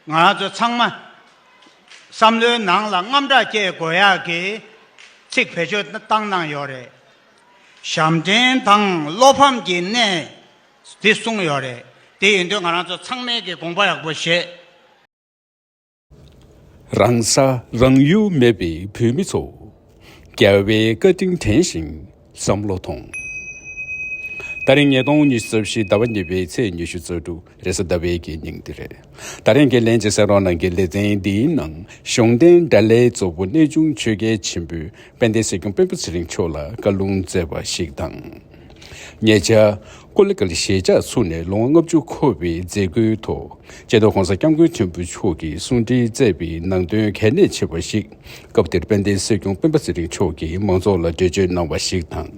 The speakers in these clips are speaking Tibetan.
ང་ཚོ་ཚང་མ་བསམ་བློའི་ནང་ལ་རྔམ་དྲག་སྐྱེ་དགོས་ཡག་གི་ཚིག་བེད་སྤྱོད་བཏང་གནང་ཡོད་རེད། ཞབས་འདྲེན་དང་བློ་ཕམ་གྱི་གནས་དེ་གསུངས་ཡོད་རེད། དེ་ཡིན་དུས་ང་རང་ཚོ་ཚང་མས་ཀྱི་དགོངས་པ་ཡག་པོ་བཞེས། རང་ས་རང་ཡུལ་མེད་པའི་བོད་མི་ཚོ། རྒྱལ་བའི་བཀའ་དྲིན་དྲན་ཞིང་བསམ་བློ་ཐོངས། ད་རིང་ཉིས་སྟོང་ཉི་ཤུ་རྩ་བཞི་ཟླ་བ་གཉིས་པའི་ཚེས་ཉི་ཤུ་རྩ་དྲུག་རེས་གཟའ་ཟླ་བའི་དགེ་སྙིང་འདི་རེད། ད་རིང་དགེ་ལེན་གྱི་སེང་རོག་ནང་གི་ལེ་ཚན་འདིའི་ནང་གཞུང་རྟེན་དགྲ་ལྷའི་གཙོ་བོ་གནས་ཆུང་ཆོས་རྒྱལ་ཆེན་པོས་དཔལ་ལྡན་སྲིད་སྐྱོང་དཔོན་པོ་ཚེ་རིང་མཆོག་ལ་བཀའ་ལུང་སྩལ་བ་ཞིག་དང། ཉེ་ཆར། ཀུ་ལི་ཀཱ་ལི་ཞལ་ཕྱག་ཚུགས་ནས་ལོ་ངོ་ལྔ་བཅུ་འཁོར་བའི་མཛད་སྒོའི་ཐོག་ཅལ་ཏོ་ཧོང་ས་སྐྱབས་མགོན་ཆེན་པོ་མཆོག་གིས་གསུང་འཕྲིན་བསྩལ་བའི་ནང་དོན་གལ་གནད་ཆེ་བ་ཞིག་སྐབས་དེར་དཔལ་ལྡན་སྲིད་སྐྱོང་སྤེན་པ་ཚེ་རིང་མཆོག་གིས་མང་ཚོགས་ལ་འགྲེལ་བརྗོད་གནང་བ་ཞིག་དང།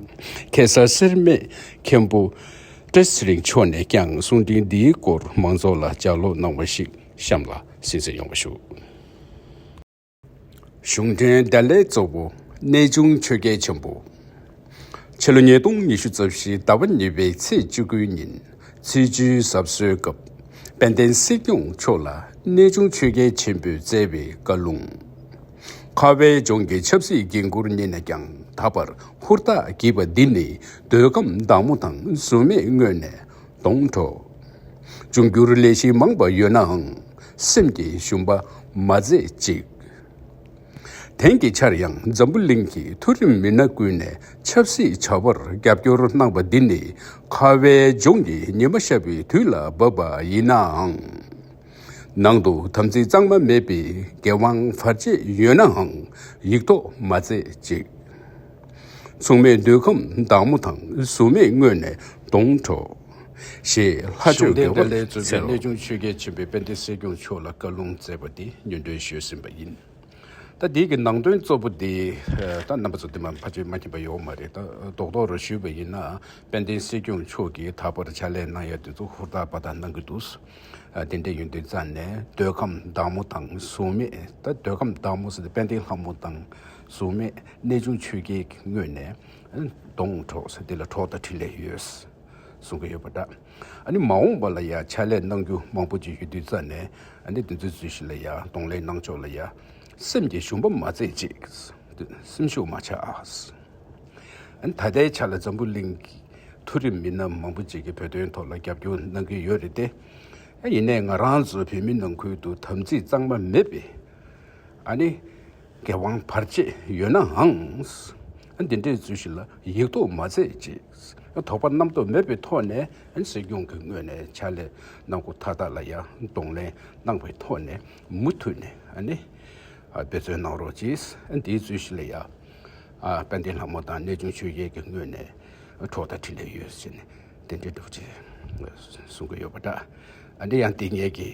གེ་སར་སེར་སྨད་མཁན་པོ་བཀྲ་ཚེ་རིང་མཆོག་ནས་ཀྱང་གསུང་འཕྲིན་འདིའི་སྐོར་མང་ཚོགས་ལ་ལྗགས་ཀློག་གནང་བ་ཞིག་གཤམ་ལ་གསན་གསན་ཡོང་བ་ཞུ། གཞུང་དོན་བདེ་ལེགས་གཙོ་བོ་གནས་ཆུང་ཆོས་རྒྱལ་ཆེན་པོ། ཕྱི་ལོ་ཉིས་སྟོང་ཉི་ཤུ་རྩ་བཞི་ཟླ་བ་གཉིས་པའི་ཚེས་བཅུ་དགུའི་ཉིན་ཚེས་བཅུའི་གཟབ་གསོལ་སྐབས་དཔལ་ལྡན་སྲིད་སྐྱོང་མཆོག་ལ་གནས་ཆུང་ཆོས་རྒྱལ་ཆེན་པོས་བསྩལ་བའི་བཀའ་ལུང། ཁ་བའི་ལྗོངས་ཀྱི་ཆབ་སྲིད་འགན་ཁུར་རྙེད་ནས་ཀྱང་ད་བར་ཧུར་ཐག་བགྱིས་པ་འདི་ནི་འདོད་ཁམས་བདག་མོ་དང་གཟུགས་མེད་དངོས་ནས་སྡོང་གྲོགས། འབྱུང་འགྱུར་ལས་གཞི་མང་བ་ཡོད་ནའང། སེམས་ཀྱི་ཞུམ་པ་མ་མཛད་ཅིག། དེང་གི་ཆར་ཡང་འཛམ་བུ་གླིང་གི་མཐོ་རིམ་མི་སྣ་ཀུན་ནས་ཆབ་སྲིད་བྱ་བར་རྒྱབ་སྐྱོར་གནང་བ་འདི་ནི་ཁ་བའི་ལྗོངས་ཀྱི་ཉི་མ་ཤར་བའི་དུས་ལ་བབས་པ་ཡིན་ནའང། ནང་དུ་དམ་ཚིག་གཙང་མ་མེད་པའི་འགན་དབང་བར་ཆད་ཡོད་ནའང་ཡིག་ཐོག་མ་མཛད་ཅིག། མཚུངས་མེད་འདོད་ཁམས་བདག་མོ་དང་གཟུགས་མེད་དངོས་ནས་སྡོང་གྲོགས། ཞེས་ལྷ་གཞུང་ཆོས་ལྡན་བསྟན་ལྷའི་གཙོས་པའི་གནས་ཆུང་ཆོས་རྒྱལ་ཆེན་པོས་དཔལ་ལྡན་སྲིད་སྐྱོང་མཆོག་ལ་བཀའ་ལུང་སྩལ་བ་དེ་ཉོན་སྒྲོན་བཞུས་ཟིན་པ་ཡིན། ད་དེ་གི་ནང་དོན་གཙོ་བོ་དེ་ད་རྣམ་པ་ཚོ་དེ་མ་ཕ་ཆོས་མ་མཁྱེན་པ་ཡོད་མ་རེད་ད་རྡོག་རྡོག་རུ་བཞུས་པ་ཡིན་ན་དཔལ་ལྡན་སྲིད་སྐྱོང་མཆོག་གིས་ད་བར་ཕྱག་ལས་གནང་ཡ་དེ་ཚོ་ཧུར་ཐག་པ་ཐག་གནང་གི་འདུག་དེ་འདྲས་ཡོད་དུས་རྩ་ནས་འདོད་ཁམས་བདག་མོ་དང་གཟུགས་མེད་ད་འདོད་ཁམས་བདག་མོ་ཟེར་དེ་དཔལ་ལྡན་ལྷ་མོ་དང་གཟུགས་མེད་གནས་ཆུང་ཆོས་རྒྱལ་གྱི་དངོས་ནས། སྡོངས་གྲོགས་ས་འདི་ལ་གྲོགས་དང་འཕྲིན་ལས་ཡོད། གསུང་གི་ཡོད་པ་འདྲ། ཨ་ནི་མ་འོངས་པ་ལ་ཡང་ཕྱག་ལས་གནང་རྒྱུ་མང་པོ་ཅིག་ཡོད་དུས་རྩ་ནས་ཨ་ནི་འདི་ཚོའི་ཚུལ་བཞིན་ལ་ཡང་གདོང་ལེན་གནང་ཕྱོགས་ལ་ཡང། སེམས་ཀྱི་ཞུམ་པ་མ་མཛད་ཅིག། སེམས་ཤུགས་མ་ཆགས། ཨ་ནི་ད་ལྟའི་ཆ་ལ་འཛམ་བུ་གླིང་གི་མཐོ་རིམ་མི་སྣ་མང་པོ་ཅིག་གིས་བོད་དོན་ཐོག་ལ་རྒྱབ་སྐྱོར་གནང་གི་ཡོད་རེད་དེ། ཡིན་ནས་ང་རང་ཚོ་བོད་མི་ནང་ཁུལ་དུ་དམ་ཚིག་གཙང་མ་མེད་པས། ཨ་ནི། དགེ་དབང་བར་བཅས་ཡོད་ནའང། འདི་འདྲའི་རྫུན་ཞིག་ལ་ཡིག་ཐོག་མ་མཛད་ཅེས་དོགས་པ་རྣམ་རྟོག་མེད་པའི་ཐོག་ནས་སྲིད་སྐྱོང་གི་ངོས་ནས་ཕྱག་ལས་གནང་སྒོ་མཐའ་དག་ལ་ཡང་གདོང་ལེན་གནང་བའི་ཐོག་ནས་མུ་མཐུད་ནས་འབད་བརྩོན་གནང་རོགས་ཅེས་འདིའི་རྫུན་ཞིག་ལ་ཡང་དཔལ་ལྡན་ལྷ་མོ་དང་གནས་ཆུང་ཆོས་རྒྱལ་གྱི་ངོས་ནས་གྲོགས་དང་འཕྲིན་ལས་ཡོད་ཅེས་ནས་དེ་འདྲའི་སྒྲུབ་བྱེད་གསུང་གི་ཡོད་པ་འདྲ། འདི་ཡང་དེ་སྙེད་ཀྱི།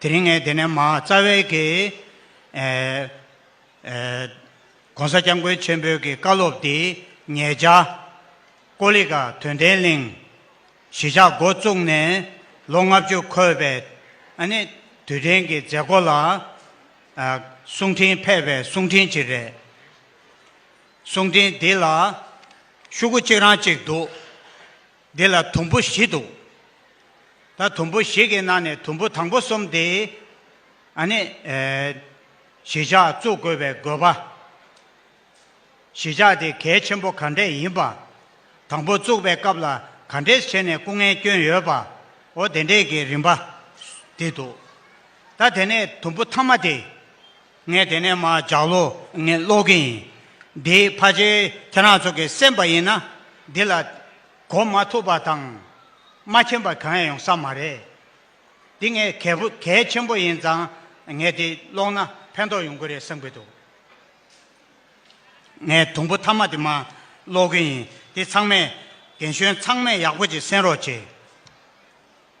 དེ་རིང་ངས་དེ་ནས་མ་རྩ་བས་ཀྱི། ྋགོང་ས ྋསྐྱབས་མགོན་ཆེན་པོའི་ཀྱི་བཀའ་སློབ་འདི་ཉལ་བྱ། ཀོ་ལི་ཀ་དོན་ལྡན་གླིང། གཞིས་ཆགས་འགོ་བཙུགས་ནས་ལོ་ལྔ་བཅུ་འཁོད་པའི། ནི། དུས་དྲན་གྱི་མཛད་སྒོ་ལ། གསུང་འཕྲིན་ཕེབས་པའི་གསུང་འཕྲིན་གྱི་རེད། གསུང་འཕྲིན་འདི་ལ། ཤུག་གུ་གཅིག་རང་གཅིག་འདུག། འདི་ལ་དུམ་བུ་བཞི་འདུག། ད་དུམ་བུ་ཞིག་གི་ནང་ནས་དུམ་བུ་དང་པོ་གསུམ་དེ། ཨ་ནི། གཞིས་ཆགས་བཙུགས་དགོས་པའི་དགོས་པ། གཞིས་ཆགས་དེ་གལ་ཆེན་པོ་ག་འདྲས་ཡིན་པ། དང་པོ་བཙུགས་པའི་སྐབས་ལ་ག་འདྲས་བྱས་ནས་སྐུ་ངལ་བསྐྱོན་ཡོད་པ། འོ་དེ་འདྲས་ཀྱི་རིམ་པ། དེ་འདུག། ད་དེ་ནས་དུམ་བུ་མཐའ་མ་དེ། ངས་དེ་ནས་མ་བརྒྱག་ལོ། ངས་ཀློག་གི་ཡིན། འདི་ཕ་ཆེ་ཁྱེད་རང་ཚོ་གི་སེམས་པ་ཡིན་ན། འདི་ལ། གོ་མ་ཐུབ་པ་དང། མ་མཁྱེན་པ་གང་ཡང་ཡོང་ས་མ་རེད། འདི་ངས་གལ་པོ་གལ་ཆེན་པོ་ཡིན་ཙང། ངས་འདི་ཀློག་ན་ཕན་ཐོགས་ཡོང་གི་རེད་བསམ་གི་འདུག། ངས་དུམ་བུ་ཐ་མ་དེ་མ་ཀློག་གི་ཡིན། འདི་ཚང་མས། རྒན་གཞོན་ཚང་མས་ཡག་པོ་ཅིག་གསན་རོགས་གྱིས།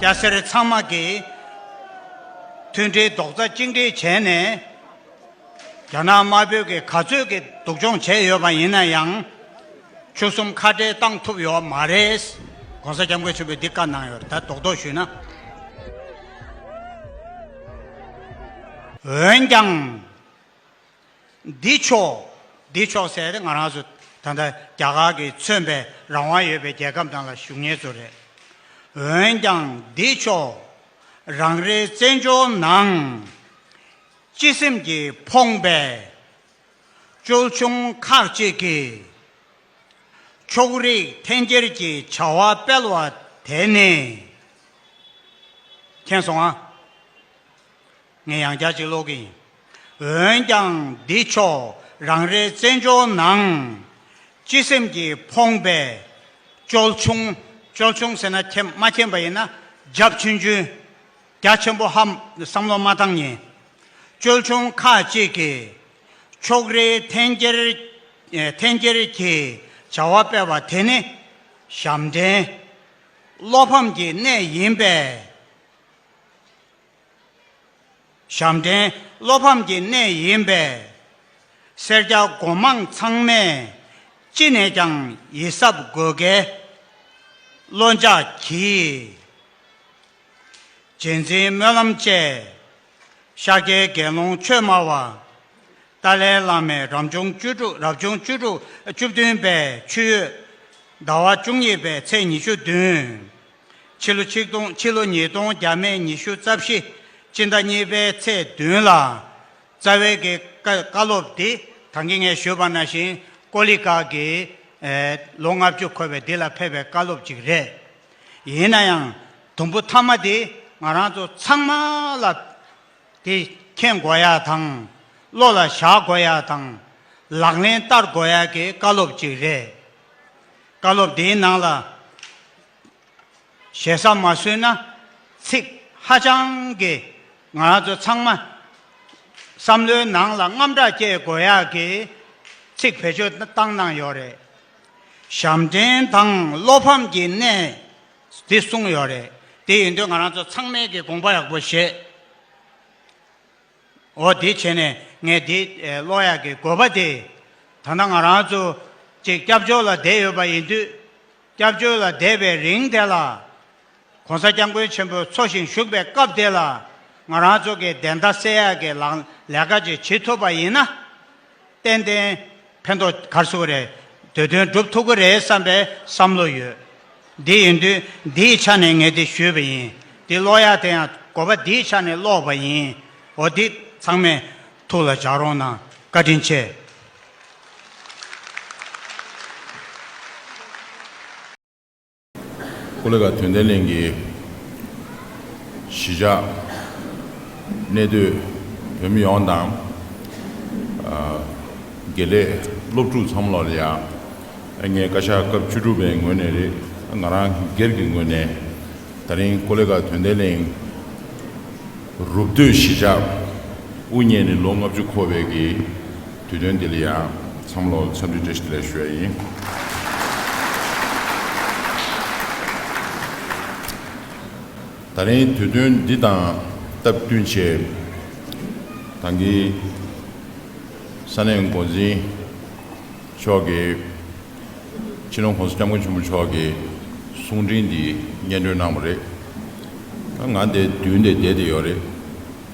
སྐྱ་སེར་ཚང་མ་གིས་མཐུན་སྒྲིལ་རྡོག་རྩ་གཅིག་སྒྲིལ་བྱས་ནས། རྒྱ་ནག་དམར་པོས་གིས་ག་ཚོད་ཀྱིས་སྡུག་སྦྱོང་བྱས་ཡོད་པ་ཡིན་ན་ཡང། ཆུ་གསུམ་ཁ་བྲལ་བཏང་ཐུབ་ཡོད་མ་རེད། ྋགོང་ས ྋསྐྱབས་མགོན་ཆེན་པོས་འདི་བཀའ་གནང་ཡོད་ད་རྡོག་རྡོག་ཞུས་ན། འོན་ཀྱང། འདི་ཕྱོགས། འདི་ཕྱོགས་ཟེར་ཏེ་ང་རང་ཚོ་ད་ལྟ་རྒྱ་གར་གྱི་མཚོན་པའི་རང་དབང་ཡོད་པའི་རྒྱལ་ཁབ་ནང་ལ་བཞུགས་ངེས་ཚོ་རེད། འོན་ཀྱང་འདི་ཕྱོགས། རང་རེའི་བཙན་བྱོལ་ནང། སྤྱི་སེམས་ཀྱིས་ཕོངས་པའི། ཅོལ་ཆུང་ཁག་ཅིག་གིས། ཕྱོགས་རིས་འཐེན་འཁྱེར་གྱི་བྱ་བ་སྤེལ་བ་དེ་ནི། མཁྱེན་སོང་ཨ། ངས་ཡང་བསྐྱར་ཅིག་ཀློག་གི་ཡིན། འོན་ཀྱང་འདི་ཕྱོགས་རང་རེའི་བཙན་བྱོལ་ནང། སྤྱི་སེམས་ཀྱིས་ཕོངས་པའི། ཅོལ་ཆུང། ཅོལ་ཆུང་ཟེར་ན་མཁྱེན་མ་མཁྱེན་པ་ཡིན་ན། རྒྱབ་ཆུན་ཆུན། རྒྱ་ཆེན་པོ་ཧམ། བསམ་བློ་མ་བཏང་ཉིན། ཅོལ་ཆུང་ཁ་ཅིག་གིས། ཕྱོགས་རེའི་འཐེན་འཁྱེར། འཐེན་འཁྱེར་གྱི་བྱ་བ་སྤེལ་བ་དེ་ནི། ཞབས་འདྲེན། བློ་ཕམ་གྱི་གནས་ཡིན་པས། ཞབས་འདྲེན་བློ་ཕམ་གྱི་གནས་ཡིན་པས། སེར་སྐྱ་སྒོ་མང་ཚང་མས་ཅི་ནས་ཀྱང་ཡིད་གཟབ་དགོས་གལ། བློ་འཇགས་གྱིས། རྗེས་འཛིན་སྨོན་ལམ་བཅས། ཤཱཀྱའི་དགེ་སློང་ཆོས་སྨྲ་བ། ཏཱ་ལའི་བླ་མས་རབ་བྱུང་བཅུ་དྲུག་རབ་བྱུང་བཅུ་དྲུག་བཅུ་བདུན་པའི་ཆུ་ཡོས་ཟླ་བ་བཅུ་གཉིས་པའི་ཚེས་ཉི་ཤུ་བདུན། ཕྱི་ལོ་ཆིག་སྟོང་ཕྱི་ལོ་ཉིས་སྟོང་བརྒྱ་མེད་ཉི་ཤུ་རྩ་བཞི་སྤྱི་ཟླ་གཉིས་པའི་ཚེས་བདུན་ལ། རྩ་བའི་གི་ཀ་བཀའ་སློབ་འདི་དང་གི་ངས་ཞུས་པ་ན་ཞིང་ཀོ་ལི་ཀ་གི། ལོ་ལྔ་བཅུ་འཁོར་བའི་འདི་ལ་ཕེབས་པའི་བཀའ་སློབ་ཅིག་རེད། ཡིན་ན་ཡང་དུམ་བུ་ཐ་མ་འདི་ང་རང་ཚོ་ཚང་མ་ལ་དེ་མཁྱེན་དགོས་ཡ་དང། བློ་ལ་བཞག་དགོས་ཡ་དང། ལག་ལེན་བསྟར་དགོས་ཡ་གི་བཀའ་སློབ་ཅིག་རེད། བཀའ་སློབ་དེའི་ནང་ལ་ཞེ་ས་མ་བཟོས་ན་ཚིག་ཧ་ཅང་གི་ང་རང་ཚོ་ཚང་མ་བསམ་བློའི་ནང་ལ་རྔམ་སྐྲག་སྐྱེ་དགོས་ཡག་གི་ཚིག་བེད་སྤྱོད་བཏང་གནང་ཡོད་རེད། ཞབས་འདྲེན་དང་བློ་ཕམ་གྱི་གནས་དེ་གསུངས་ཡོད་རེད་དེ་ཡིན་དུས་ང་རང་ཚོ་ཚང་མས་གི་དགོངས་པ་ཡག་པོ་བཞེས། འོ་དེ་བྱས་ནས་ངས་དེ་གློག་ཡག་གི་དགོས་པ་དེ། ད་ནང་ང་རང་ཚོ་གཅིག་སྐྱབས་བཅོལ་ལ་བསྡད་ཡོད་པ་ཡིན་དུས། སྐྱབས་བཅོལ་ལ་བསྡད་པའི་རིང་དེ་ལ། ྋགོང་ས་སྐྱབས་མགོན་ཆེན་པོ་འཚོ་ཞིང་བཞུགས་པའི་སྐབས་དེ་ལ། ང་རང་ཚོ་གི་བདེན་མཐའ་གསལ་ཡག་གི་ལག་ལས་ཀ་ཅིག་བྱེད་ཐུབ་པ་ཡིན་ན། ཏན་ཏན། ཕན་ཐོགས་གར་སོང་རེད། དེ་དོན་སྒྲུབ་ཐུབ་ཀི་རེད་བསམ་པའི་བསམ་བློ་ཡོད། འདི་ཡིན་དུས་འདིའི་ཆ་ནས་ངས་དེ་ཞུས་པ་ཡིན། འདི་ཀློག་ཡག་དེ་ཡང་གོ་བ་འདིའི་ཆ་ནས་ཀློག་པ་ཡིན། འོ་འདི་ཚང་མས་ཐུགས་ལ་འཇགས་རོགས་གནང། བཀའ་དྲིན་ཆེ། ཀུ་ལེ་ཀ་དོན་ལྡན་གླིང་གི་གཞིས་ཆགས་གནས་སྡོད་བོད་མི་ཡོངས་དང། དགེ་ལས་སློབ་ཕྲུག་ཚང་མ་ལ་ཡང་ངས་བཀའ་ཤག་སྐབས་བཅུ་དྲུག་པའི་ངོས་ནས་རེད་ང་རང་སྒེར་གྱི་ངོས་ནས་ད་རིང་ཀུ་ལེ་ཀ་དོན་ལྡན་གླིང་རུབ་སྡོད་གཞིས་ཆགས་དབུ་བརྙེས་ནས་ལོ་ལྔ་བཅུ་འཁོར་བའི་གི་དུས་སྟོན་འདི་ལ་ཡང་འཚམས་བློ་འཚམས་འདྲི་བཀྲ་ཤིས་བདེ་ལེགས་ཞུ་བ་ཡིན། ད་རིང་དུས་སྟོན་འདི་དང་སྟབས་བསྟུན་ཆེད་གངས་སྐྱིད་ས་གནས་མགོ་འཛིན་མཆོག་གིས་ཕྱི་ལོ་གོང་ས་སྐྱབས་མགོན་ཆེན་པོ་མཆོག་གི་གསུང་འཕྲིན་འདི་སྙན་སྒྲོན་གནང་བ་རེད། ད་ང་འདི་མདུན་དེ་བསྡད་དེ་ཡོད་རེད།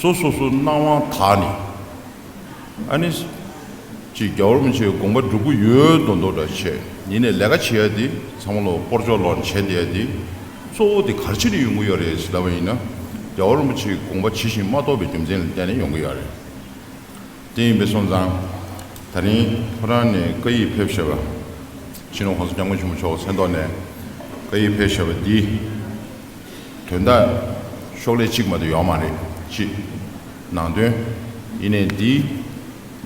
སོ་སོ་སོའི་སྣང་བ་དག་ནི། ཨ་ནི། ཅེས་རྒྱ་བོར་མི་ཆེ་བའི་དགོངས་པ་འགྲུབ་ཀྱི་ཡོད་དོ་མདོ་སྒྲ་ཆེ་ཉིད་ནས་ལས་ཀ་བྱེད་ཡ་དེ་ཚང་མ་ལོ་སྤོར་ཅོག་ལོག་བྱེད་འདི་ཡ་དེ། གཙོ་བོ་དེ་གར་ཕྱིན་ནས་ཡོང་གི་ཡོད་རེད་ཞེས་ལབ་པ་ཡིན་ན། རྒྱ་བོར་མི་ཆེ་བའི་དགོངས་པ་ཇི་བཞིན་མ་རྟོགས་པའི་རྒྱུ་མཚན་ལ་བརྟེན་ནས་ཡོང་གི་ཡོད་རེད། དེ་ཡིན་པའི་སོང་ཙང། ད་རིང་ཁོ་རང་ནས་བཀའ་ཡིག་ཕེབས་ཞེས་པ། ཕྱི་ནང་གོང་ས་སྐྱབས་མགོན་ཆེན་པོ་མཆོག་གི་མཚན་ཐོག་ནས་བཀའ་ཡིག་ཕེབས་ཞེས་པ་འདི། དོན་དག་ཤོག་ལྷེ་གཅིག་མ་གཏོགས་ཡོག་མ་རེད། གཅིག། ནང་དོན། ཡིན་ནས་འདིའི།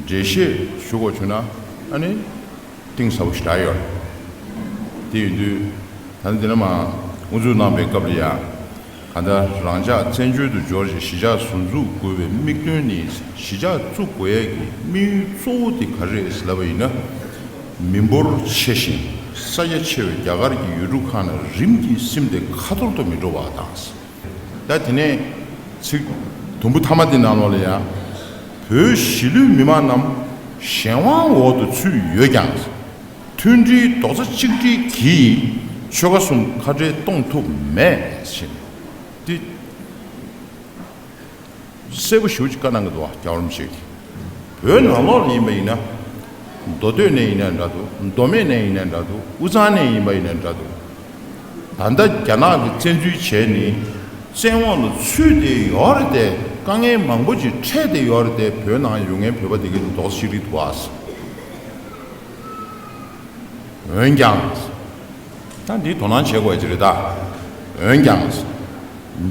འགྲེལ་བཤད་ཞུ་གོ་ཆོད་ན་ཨ་ནི། གཏིང་ཟབ་པོ་ཞིག་རག་ཡོད། དེ་ཡིན་དུས། ད་ནི་འདི་ན་མ་དབུ་འཛུགས་གནང་པའི་སྐབས་ལ་ཡང། གང་ལྟར་རང་ཅག་བཙན་བྱོལ་དུ་འབྱོར་རྗེས་གཞིས་ཆགས་ཟུར་འཛུགས་དགོས་པའི་དམིགས་དོན་ནི་གཞིས་ཆགས་བཙུགས་དགོས་ཡས་ཀྱི་དམིགས་ཡུལ་གཙོ་བོ་དེ་ག་རེད་ཟེར་ལབ་པ་ཡིན་ན། མི་འབོར་ཆེ་ཞིང་ས་རྒྱ་ཆེ་བའི་རྒྱ་གར་གྱི་ཡུལ་གྲུ་ཁག་ནས་རིམ་གྱིས་སིམ་སྟེ་ཁ་ཐོར་དུ་མི་འགྲོ་བ་དང། ད་དེ་ནས་ཚིག་དུམ་བུ་ཐ་མ་འདི་ནང་ལོགས་ལ་ཡང། བོད་གཞིས་ལུས་མི་མང་རྣམས་གཞན་དབང་འོག་ཏུ་ཚུད་ཡོད་ཀྱང། མཐུན་སྒྲིལ་རྡོག་རྩ་གཅིག་སྒྲིལ་གྱིས་ཆོལ་ཁ་གསུམ་ཁ་བྲལ་གཏོང་ཐུབ་མེད་ཅིང། གསལ་པོ་ཞུ་ཅིག་བཀའ་གནང་གི་འདུག་བ་རྒྱ་རོམ་ཞིག་བོད་ནང་ལོག་ནས་ཡིན་པ་ཡིན་ན། མདོ་སྟོད་ནས་ཡིན་ན་འདྲ་འདུག་མདོ་སྨད་ནས་ཡིན་ན་འདྲ་འདུག་དབུས་གཙང་ནས་ཡིན་པ་ཡིན་ན་འདྲ་འདུག་ད་ལྟ་རྒྱ་ནག་གི་བཙན་འཛུལ་བྱས་ནས་བཙན་འོག་ལ་ཚུད་དེ་ཡོད་རེད་དེ་དཀའ་ངལ་མང་པོ་ཅིག་འཕྲད་དེ་ཡོད་རེད་དེ་བོད་ནང་ཡོད་ངའི་བོད་པ་དེ་གའི་མདོག་ཅིག་རེད་འདུག་བ། འོན་ཀྱང། ད་འདིའི་དོ་སྣང་བྱེད་དགོས་ཀྱི་རེད་ད། འོན་ཀྱང།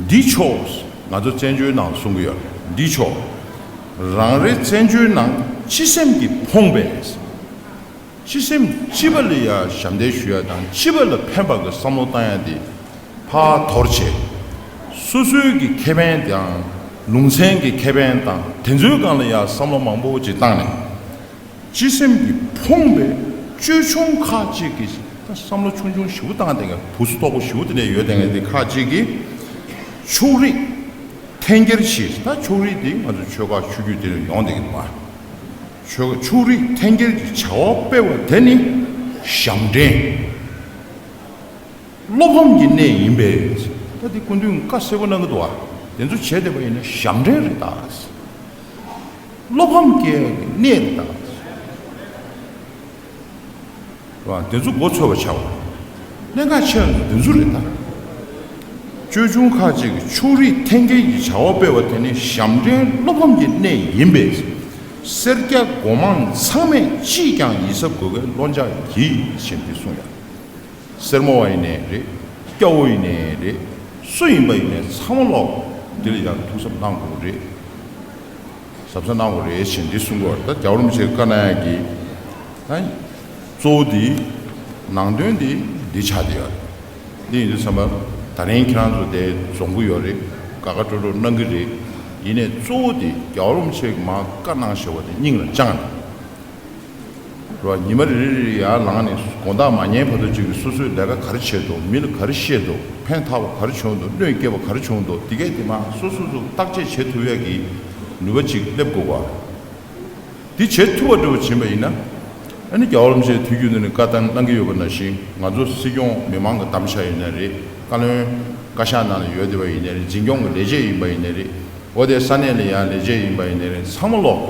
འདི་ཕྱོགས་ང་ཚོ་བཙན་བྱོལ་ནང་གསུང་གི་ཡོད་རེད་འདི་ཕྱོགས། རང་རེ་བཙན་བྱོལ་ནང་སྤྱི་སེམས་ཀྱི་ཕོངས་པས། སྤྱི་སེམས་སྤྱི་པ་ལ་ཡ་ཞབས་འདེགས་ཞུ་ཡ་དང་སྤྱི་པ་ལ་ཕན་པ་གི་བསམ་བློ་བཏང་ཡ་དེ། ཕ་དོར་བྱེད། སོ་སོའི་གི་ཁེ་ཕན་དང་ལུང་ཚན་གི་ཁེ་ཕན་དང་དེ་ཚོའི་སྒང་ལ་ཡ་བསམ་བློ་མང་པོ་ཅིག་བཏང་ནས། སྤྱི་སེམས་ཀྱིས་ཕོངས་པའི་ཅོལ་ཆུང་ཁག་ཅིག་གིས་ད་བསམ་བློ་ཆུང་ཆུང་ཞིག་བུ་བཏང་དེ་བུ་ཚོ་ལྟོགས་པོ་ཞིག་བུ་དེ་ཡོད་དེ་ཁག་ཅིག་གིས་ཕྱུགས་རིགས་འཐེན་འཁྱེར་ཞིག་ད་ཕྱུགས་རིགས་དེ་ང་ཚོ་ཆོལ་ཁ་ཆོས་རྒྱུད་དེ་རུ་ཡོང་དེ་མ་ཆོལ་ཕྱུགས་རིགས་འཐེན་འཁྱེར་གྱི་བྱ་བ་སྤེལ་བ་དེ་ནི་ཞབས་འདྲེན་བློ་ཕམ་གྱི་གནས་ཡིན་པས་ད་དེ་སྐུ་མདུན་བཀའ་གསལ་པོ་གནང་གི་འདུག་བ་དེ་ཚོ་བྱེད་བདེ་བ་ཡིན་ན་ཞབས་འདྲེན་རེད་ད། བློ་ཕམ་སྐྱེ་བའི་གནས་རེད་ད། བདེན་རྫུན་མགོ་འཚོས་པར་བྱ་བ། གནད་འགག་ཆེ་བ་ནི་བདེན་རྫུན་རེད་ད། ཅོལ་ཆུང་ཁག་ཅིག་གིས་ཕྱོགས་རིས་འཐེན་འཁྱེར་གྱི་བྱ་བ་སྤེལ་བ་དེ་ནི་ཞབས་འདྲེན་བློ་ཕམ་གྱི་གནས་ཡིན་པས། སེར་སྐྱ་མགོ་མང་ཚང་མས་ཅིས་ཀྱང་ཡིད་གཟབ་དགོས་གལ་བློ་འཇགས་གྱིས་ཞེས་འདི་གསུངས་ཡང། སེར་མོ་བ་ཡིན་ནས་རེད། སྐྱ་བོ་ཡིན་ནས་རེད། སུ་ཡིན་པ་ཡིན་ནས་ཚང་མ་ལོག་འདི་ལ་ཡར་ཐུགས་གཟབ་གནང་དགོས་རེད། ཟབ་ས་གནང་བ་རེད་ཞེས་འདི་གསུངས་པར་ད་རྒྱ་རོམ་ཆེ་དཀར་ནག་གིས་ད་གཙོ་བོ་འདི་ནང་དོན་འདི་འདི་ཆགས་འདི་ཡོད་རེད་འདི་ཡིན་འདི་བསམ་པ་ད་རིང་ཁྱེད་རང་ཚོ་དེ་རྫོང་གི་ཡོད་རེད་དགའ་དགའ་སྤྲོ་སྤྲོ་གནང་གི་རེད་ཡིན་ནས་གཙོ་བོ་འདི་རྒྱ་རོམ་ཆེ་དམག་དཀར་ནག་ཞེས་བ་དེ་སྙིང་ལ་བཅངས་ནས། ཉི་མ་རེ་རེར་ཡར་ལངས་ནས་དགོང་དག་མ་ཉལ་བར་དུ་ཅིག་སོ་སོའི་ལས་ཀ་གར་བྱེད་དོ་མི་ལ་གར་བཤད་དོ་ཕན་ཐག་པ་གར་བྱུང་དོ་བློས་སྐྱེ་བ་གར་བྱུང་དོ་དེ་སྐད་དེ་མ་སོ་སོ་སོར་བརྟག་དཔྱད་བྱེད་ཐུབ་ཡག་གི་ནུས་པ་ཅིག་སླེབས་དགོས་པ། དེ་བྱེད་ཐུབ་པ་འགྲོ་བ་བྱིན་པ་ཡིན་ན། རྒྱ་བོར་མཆེད་དུས་རྒྱུན་དུ་ནས་བཀའ་བསྟན་གནང་གི་ཡོད་པ་ནང་བཞིན་ང་ཚོ་སྲིད་སྐྱོང་མི་མང་གི་གཏམ་བཤགས་ཡིན་ནའི་རེད་བཀའ་བློན་བཀའ་ཤག་ནང་ལ་ཡོད་བསྡད་པ་ཡིན་ནའི་རེད་འཛིན་སྐྱོང་གི་ལས་བྱེད་ཡིན་པ་ཡིན་ནའི་རེད་འོ་དེ་ས་གནས་ལ་ཡང་ལས་བྱེད་ཡིན་པ་ཡིན་ནའི་རེད་ཚང་མ་ལོག་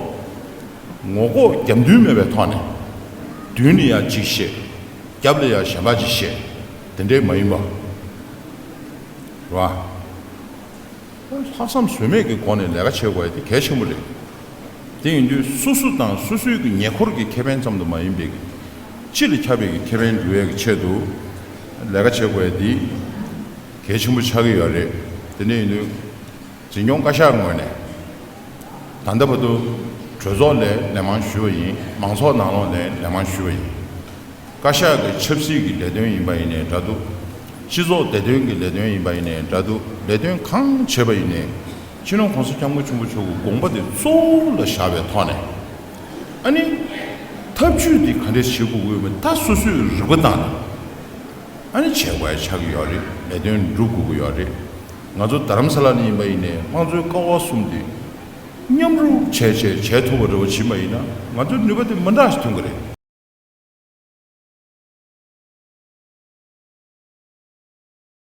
ངོ་ལྐོག་རྒྱབ་མདུན་མེད་པའི་ཐོག་ནས། མདུན་ལ་ཡང་གཅིག་བཤད། རྒྱབ་ལ་ཡང་གཞན་པ་གཅིག་བཤད། དེ་འདྲའི་མ་ཡིན་པ། རེད་བ། ལྷག་བསམ་ཟོལ་མེད་ཀྱི་སྒོ་ནས་ལས་ཀ་བྱེད་དགོས་པ་དེ་གལ་ཆེན་པོ་རེད། དེ་ཡིན་དུས་སོ་སོ་དང་སོ་སོའི་གི་ཉེ་འཁོར་གྱི་ཁེ་ཕན་ཙམ་དུ་མ་ཡིན་པའི། སྤྱི་ལ་ཁྱབ་པའི་གི་ཁེ་ཕན་འགྲུལ་བའི་གི་ཆེད་དུ། ལས་ཀ་བྱེད་དགོས་པ་དེ་གལ་ཆེན་པོ་ཆགས་ཀྱི་ཡོད་རེད། དེ་འདྲ་ཡིན་དུས། འཛིན་སྐྱོང་བཀའ་ཤག་ངོས་ནས་ད་ལྟ་བར་དུ་གྲོས་ཚོགས་ལས་ལན་མང་ཞུས་པ་ཡིན་མང་ཚོགས་ནང་ལོགས་ལས་ལན་མང་ཞུས་པ་ཡིན། བཀའ་ཤག་གི་ཆབ་སྲིད་ཀྱི་ལས་དོན་ཡིན་པ་ཡིན་ནས་འདྲ་འདུག་སྤྱི་ཚོགས་བདེ་དོན་གྱི་ལས་དོན་ཡིན་པ་ཡིན་ནས་འདྲ་འདུག་ལས་དོན་གང་བྱེད་པ་ཡིན་ནས་ཕྱི་ནང་གོང་ས་སྐྱབས་མགོན་ཆེན་པོ་མཆོག་གི་དགོངས་པ་དེ་གཙོ་བོ་ལ་བཞག་པའི་ཐོག་ནས་ཨ་ནི་ཐབས་ཇུས་དེ་ག་འདྲ་བྱེད་དགོས་དགོས་མིན་ད་སོ་སོས་རིག་པ་བཏང་ནས་ཨ་ནི་བྱེད་དགོས་ཡ་ཆགས་ཀྱི་ཡོད་རེད་ལས་དོན་སྒྲུབ་དགོས་ཀྱི་ཡོད་རེད། ང་ཚོ་དར་རམ་ས་ལ་ནས་ཡིན་པ་ཡིན་ནས་དམངས་གཙོའི་ཀ་བ་གསུམ་དེ་མཉམ་རུབ་བྱས་བྱས་བྱས་ཐུབ་པ་རེ་བ་བྱིན་པ་ཡིན་ན་ང་ཚོའི་ནུས་པ་དེ་མི་འདྲ་ཞིག་ཐོན་གི་རེད།